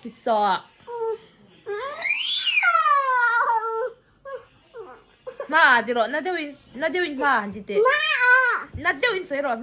Chi sawk. Ma a chi rawh, na deuh in, na deuh in ma a chi te. Na deuh in sawi rawh.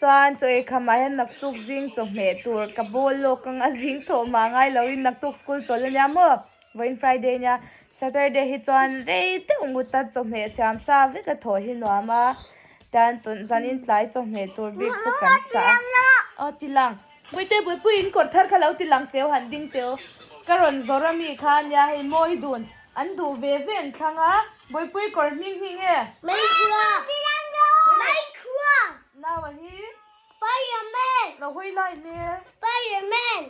Chuan chaw ei kha mah hian naktuk zing chawhmeh tur ka bawl lawk ang a zing thaw mah ngai lo in naktuk school chawl ania maw vawiin Friday nia Saturday hi chuan rei deuh nguta chawhmeh siam sa vek a thaw hi nuam a tan zanin tlai chawhmeh tur bik chu kan chah a aw tilang. Bawihtei Bawipuii in kawr thar kha lo ti lang teu han ding teu ka rawn zawrh a mi kha nia hei mawi dun an duh ve ve an thlang a Bawipuii kawr hming hming e. Mai khua Mai khua Nau a hi Spider man Lo hawi lai me Spider man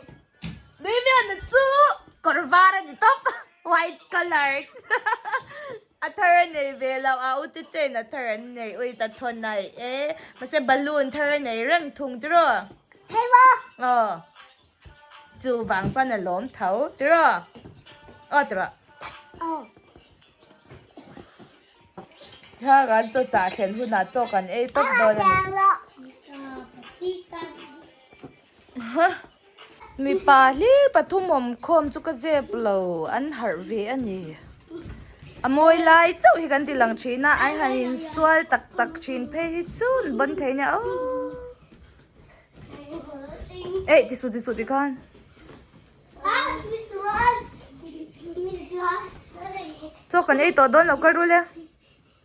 Daviana chu kawr var a ni tawp white colour. A thar a nei ve lo a u te chen a thar an nei ui ta thawn ai e mahse balloon thar a nei reng thung tiraw phei maw aw chuvang chuan a lawm tho tiraw aw tiraw aw tha kan chaw chah thlen hunah chaw kan ei tawp dawn a ni. Mipa hlil pathum awm khawm chu ka zep lo an harh ve a ni. A mawi lai chauh hi kan ti lang thin a, ai han in sual tak tak thin phei hi chu ni bawn thei nia aw. Eih ti suh ti suh ti khan. Chaw kan ei tawh dawn lo ka rul e.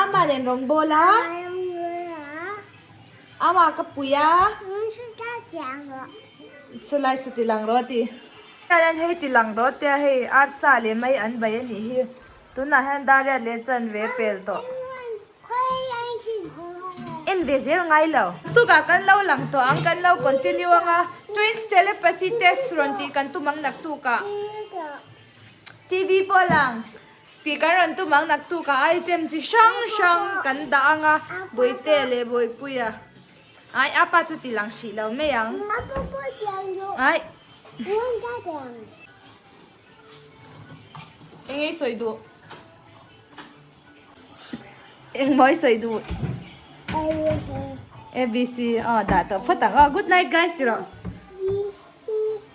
Ama nen rawn bawl a. Ama ka pui a. Chulai chu tilang rawh ti. Hian hei tilang rawh tia hei arsa leh mai an bai a nih hi. Tunah hian Dariat leh Chan ve pel tawh. En ve zel ngai lo. Tukah kan lo lang tawh ang kan lo continue anga twins telepathy test rawn tih kan tum ang nak tukah TV pawh a lang. Tih kan rawn tum ang naktuk ah item chi hrang hrang kan dah ang a, Bawihte leh Bawipuia ai apa chu ti lang hrih lo mai ang. Ai. Engei sawi duh. Engmawii sawi duh. ABC. Aa dah tawh phawt ang. Good night guys ti rawh.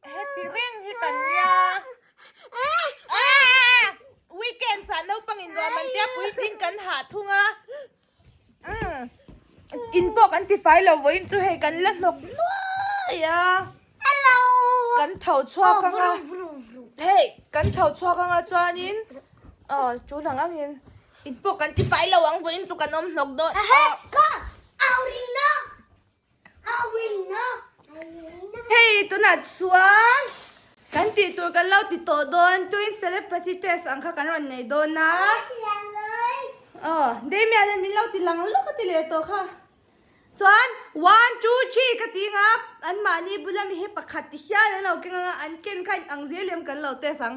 Happy reng hi kan nia. Weekend sa naupang in ruah man tia puitling kan ha thung a. In pawh kan ti fai lo vawiin chu hei kan la hnawk nuai a. Hello. Kan tho chhuak anga. Hei kan tho chhuak anga chuanin chu dang angin in pawh kan ti fai lo ang vawiin chu kan awm hnawk dawn. Ahee. Ka au ringna. Hei tunah chuan kan tih tur kan lo ti tawh dawn twin telepathy test ang kha kan rawn nei dawn a. Aw Damian a min lo ti lang lawk a ti leh tawh kha. Chuan one two three ka tih ang a anmahni bula mi hi pakhat ti hial an lo keng ang a an ken kha inang zel em kan lo test ang.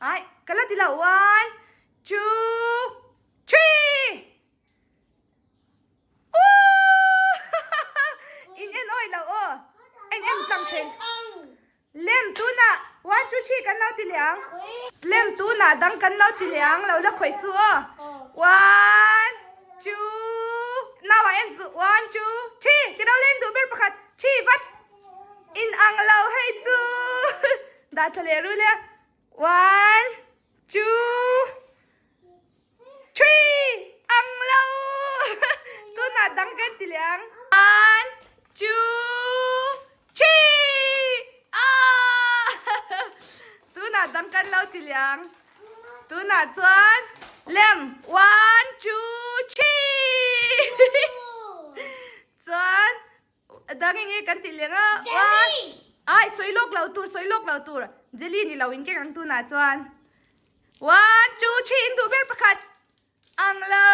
Ai, ka la ti lo, one, two, three! In en oi lo aw, en en tlang thei. Lem tuna one, two, three kan lo ti leh ang. Lem tuna dang kan lo ti leh ang, lo la khawih chu aw. One, two, nau ah en zu, one, two, three! Tilo la en duh ber pakhat, three vat. In ang lo hei chu. Dah tha leh rul a one two three ang lo tunah dang kan ti leh ang one two three aah tunah dang kan lo ti leh ang tunah chuan lem one two three chuan Dang eng nge kan tih leh nga ua. Jelly! Ai, sawi lawk lo tur, sawi lawk lo tur. Jelly ni lo in keng ang tunah chuan. One, two, three, in duh ber pakhat. Ang lo.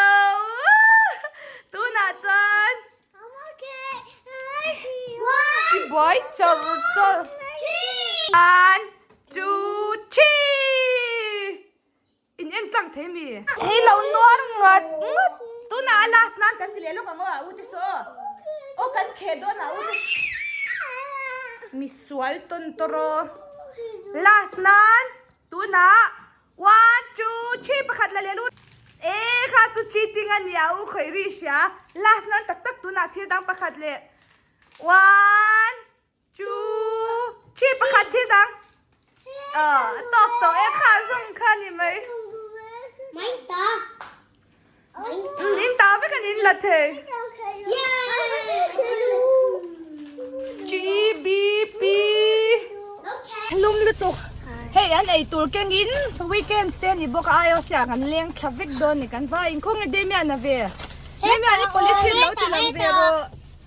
Tunah chuan. I buai char char. One, two, three. In en tlang thei mi. Thei lo nuar ngat ngat. Tuna a last nan kan ti leh lawk ang aw a u te saw. Aw kan kheh dawn a u te. Misual tawn tawr aw. Last nan tuna one two three pakhat la leh lut. E kha chu cheating a ni a u khawiri hria. Last nan tak tak tuna thil dang pakhat leh one. Chu thi pakhat thil dang a tawk tawh e kha zawng kha ni mai mai ta in ta vek anin la thei gbp hlum lutuk hei an ei tur keng in weekend te ani bawk a ioc ah kan leng tha vek dawn ni kan va inkhawm nge damian a ve damian i police hi alo ti lo ve rawh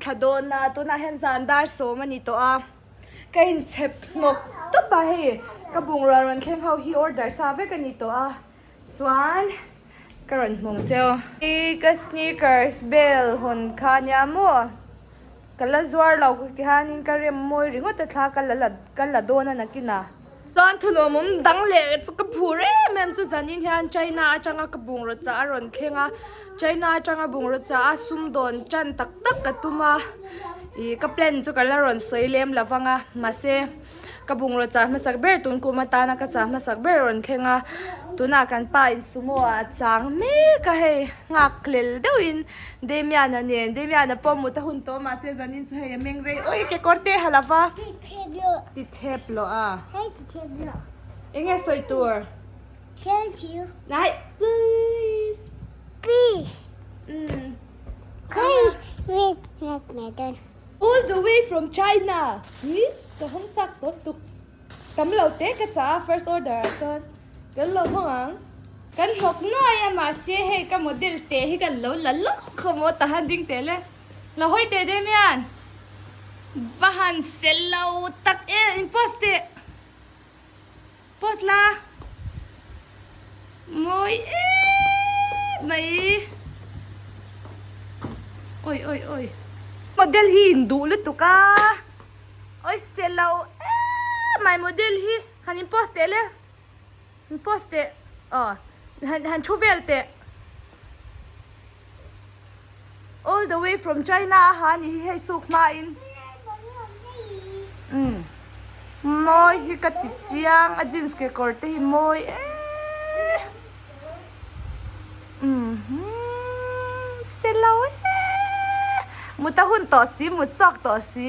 Thla dawnna tunah hian zan dar sawm a ni tawh a, ka inchhep hnawk tawp a hei, ka bungrua rawn thleng ho hi order sa vek a ni tawh a, chuan ka rawn hmawng che a. I ka sneakers bel hawn kha nia maw, ka la zuar lo tihian in ka remmawi ringawt a thla ka la la dawn a nakin a. Chuan thulawm awm dang leh chu ka hmuh rem em chu zanin hian China atanga ka bungraw chah a rawn thleng a China atanga bungraw chah a sumdawn tan tak tak ka tum a ih ka plan chu ka la rawn sawi lem lo vang a mahse ka bungraw chah hmasak ber tunkum atana ka chah hmasak ber a rawn thleng a tunah kan pa in sumo ah a chang mek a hei nghak lel deuh in Damian a nen Damian a pawm mut a hun tawh mahse zanin chu hei a mengrei oi kekawr te ha lova. Tithep loh a. Hei tithep loh. Eng nge sawi tur? Thank you. Nai, please. Please. Mm. Hei red red medon. All the way from China. Hi, ka hawng chak dawn tuk. Tam lo te ka chah a first order ah chuan. Kan lo hawng ang. Kan hnawk nuai a mahse hei ka model teh hi kan lo la lawk khawmaw tahan ding teh le. Lo hawi teh daih mian. Va han sel lo tak e. In post teh. Post la. Mawi em mai. Oi oi oi. Model hi in duh lutuk a. Oi selo em mai model hi. Han in post teh le. Han post teh aw han thu vel teh all the way from China a ha ani hi hei suk hma in umm mawi hi ka ti chiang a jeans kekawr te hi mawi eee umm selo eee mut a hun tawh si mut chhuak tawh si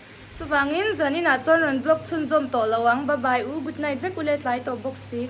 Chuvangin zanin ah chuan rawn vlog chhunzawm tawh lo ang, bye bye u, good night vek ule tlai tawh bawk si.